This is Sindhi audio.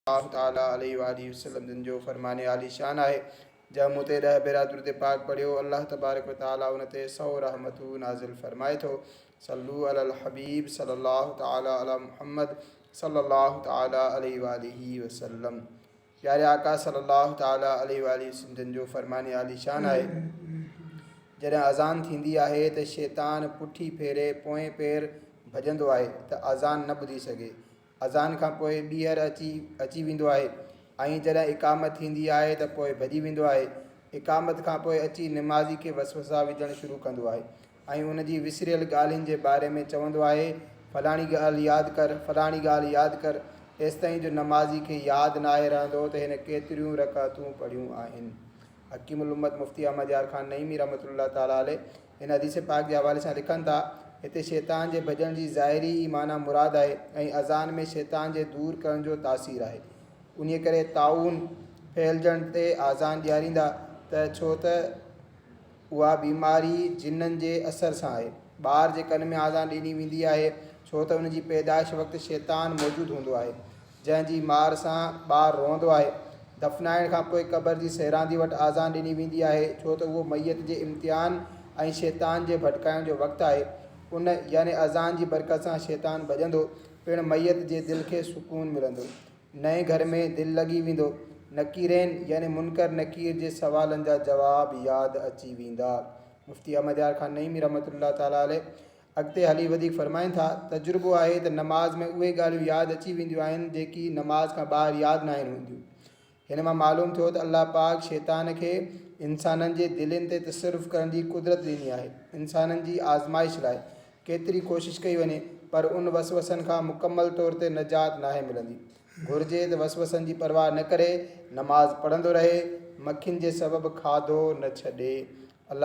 الله تعالي عليه وآله وسلم جن جو فرمان عالي شان آهي، جنهن مون تي ڏهه ڀيرا درود پاڪ پڙهيو، الله تبارڪ و تعالي ان تي سؤ رحمتون نازل فرمائي ٿو، صلو علي الحبيب صلي الله تعالي علي محمد صلي الله تعالي عليه وآله وسلم پياري آقا صلي الله تعالي عليه وآله وسلم جن جو فرمان عالي شان آهي، جڏهن اذان ٿيندي آهي ته شيطان پٺي ڦيري پوئين پير ڀڄندو آهي ته اذان نه ٻڌي سگهي، اذان کان پوء ٻيهر اچي اچي ويندو آهي ۽ جڏهن اقامت ٿيندي آهي ته پوء ڀڄي ويندو آهي. اقامت کان پوء اچي نمازي کي وسوسا وجهڻ شروع ڪندو آهي ۽ ان جي وسريل ڳالهين جي باري ۾ چوندو آهي، فلاڻي ڳالهه ياد ڪر، فلاڻي ڳالهه ياد ڪر، ايستائين جو نمازي کي ياد ناهي رهندو ته هن ڪيتريون رڪعتون پڙهيون آهن. حڪيم الامت مفتي احمد يار خان نعيمي رحمة الله تعالٰي عليه هن حديث پاڪ جي حوالي سان لکن ٿا، هتي شيطان جي ڀڄڻ جي ظاهري ئي معنيٰ مراد آهي ۽ اذان ۾ شيطان جي دور ڪرڻ جو تاثير آهي. انهيء ڪري طاعون ڦهلجڻ تي آذان ڏياريندا ته ڇو ته اها بيماري جنن جي اثر سان آهي. ٻار جي ڪن ۾ آذان ڏني ويندي آهي ڇو ته ان جي پيدائش وقت شيطان موجود هوندو آهي. جنهن جي مار سان ٻار روئندو آهي. دفنائڻ کان پوء قبر جي سيراندي وٽ آذان ڏني ويندي آهي، ڇو ته اهو ميت جي امتحان ۽ شيطان جي ڀٽڪائڻ جو وقت آهي. ان، يعني اذان جي برڪت سان شيطان ڀڄندو، پڻ ميت جي دل کي سڪون ملندو. نئين گهر ۾ دل لڳي ويندو. نڪيرين، يعني منڪر نڪير جي سوالن جا جواب ياد اچي ويندا. مفتي احمد يار خان نعيمي رحمة الله تعالٰي عليه اڳتي هلي وڌيڪ فرمائن ٿا، تجربو آهي ته نماز ۾ اهي ڳالهيون ياد اچي وينديون آهن جيڪي نماز کان ٻاهر ياد ناهن هونديون. هن مان معلوم ٿيو ته الله پاڪ شيطان کي انسانن جي دلين تي تصرف ڪرڻ جي قدرت ڏني آهي. انسانن جي آزمائش لاء ڪيتري ڪوشش ڪئي وڃي پر ان وسوسن کان مڪمل طور تي نجات ناهي ملندي. گهرجي ته وسوسن جي پرواهه نه ڪري نماز پڙهندو رهي، مکين جي سبب کاڌو نه ڇڏي. الله.